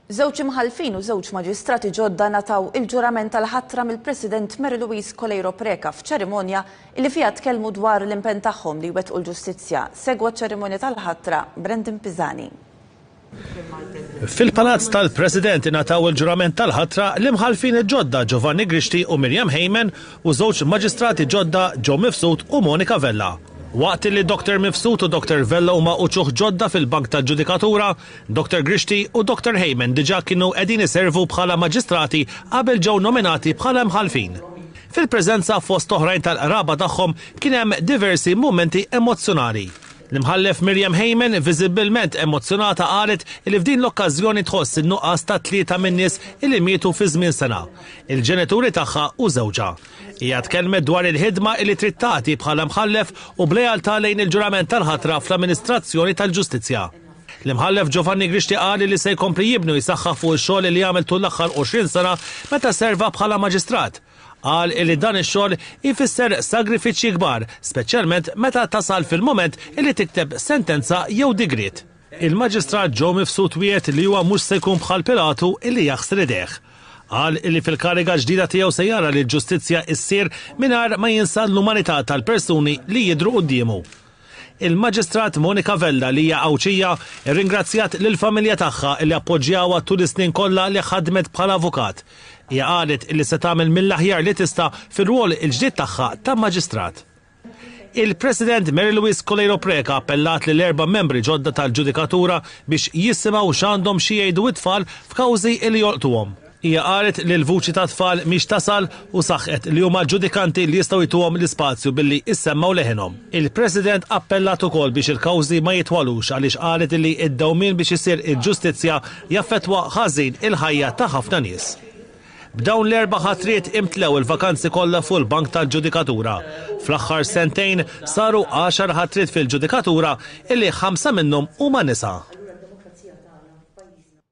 Żewġ imħallfin u żewġ maġistrati ġodda nataw il-ġurament tal-ħatra mill-President Mary Louise Coleiro Preca f'ċerimonja li fiha tkellmu dwar l-impenn tagħhom li jwettqu l-ġustizzja. Segwa ċ-ċerimonja tal-ħatra Brandon Pisani. Fil-Palazz tal-President ingħataw il-ġurament tal-ħatra l-imħallfin il-ġodda Giovanni Grixti u Miriam Heyman u żewġ maġistrati ġodda Joe Mifsud u Monika Vella. Waqt li Dr Mifsud u Dr Vella huma uċuħ ġodda fil-bank tal-ġudikatura, Doktor Grixti u Doktor Heyman diġà kienu qegħdin iservu bħala maġistrati qabel ġew nominati bħala imħallfin. Fil-preżenza fost oħrajn tal-qraba tagħhom kien hemm diversi mumenti emozzjonali. L-Imħallef Miriam Heyman viżibbilment emozzjonata qalet li f'din l-okkażjoni tħoss in-nuqqas ta' tlieta min-nies li mietu fi żmien sena, il-ġenituri tagħha u żewġha. Hija tkellmet dwar il-ħidma li trid tagħti bħala mħallef u b'lealtà lejn il-ġurament tal-ħatra fl-amministrazzjoni tal-ġustizzja. L-Imħallef Giovanni Grixti qal li se jkompli jibni u jsaħħaħ fuq ix-xogħol li għamel tul l-aħħar 20 sena meta serva bħala Maġistrat. Qal li dan ix-xogħol ifisser sagrifiċċji kbar, speċjalment meta tasal fil-mument li tikteb sentenza jew digriet. Il-Maġistrat Joe Mifsud wiegħed li huwa mhux se jkun bħal Pilatu li jaħsr idejh. Qal li fil-kariga ġdida tiegħu se jara li l-ġustizzja issir mingħajr ma jinsa l-umanità tal-persuni li jidhru quddiemu. Il-Maġistrat Monica Vella li hija Għawdxija rringrazzjat lill-familja tagħha li appoġġjawha tul is-snin kollha li ħadmet bħala avukat. Hija qalet li se tagħmel mill-aħjar li tista' fir-rwol il-ġdid tagħha ta' Maġistrat. Il-President Mary Louise Coleiro Preca appellat lill-erba' membri ġodda tal-ġudikatura biex jisimgħu x'għandhom xi jgħidu t-tfal f'kawżi li jolqtuhom. Hija qalet li l-vuċi tat-tfal mhix tasal u saħqet li huma l-ġudikanti li jistgħu jtuhom l-ispazju billi issemmgħu leħinhom. Il-President appellat ukoll biex il-kawżi ma jitwalux għaliex qalet li d-dewmien biex issir il-ġustizzja jaffettwa ħażin il-ħajja ta' ħafna nies. B'dawn l-erba' ħatriet imtlew il-vakanzi kollha fuq il-bank tal-ġudikatura. Fl-aħħar sentejn saru għaxar ħatriet fil-ġudikatura illi ħamsa minnhom huma nisa.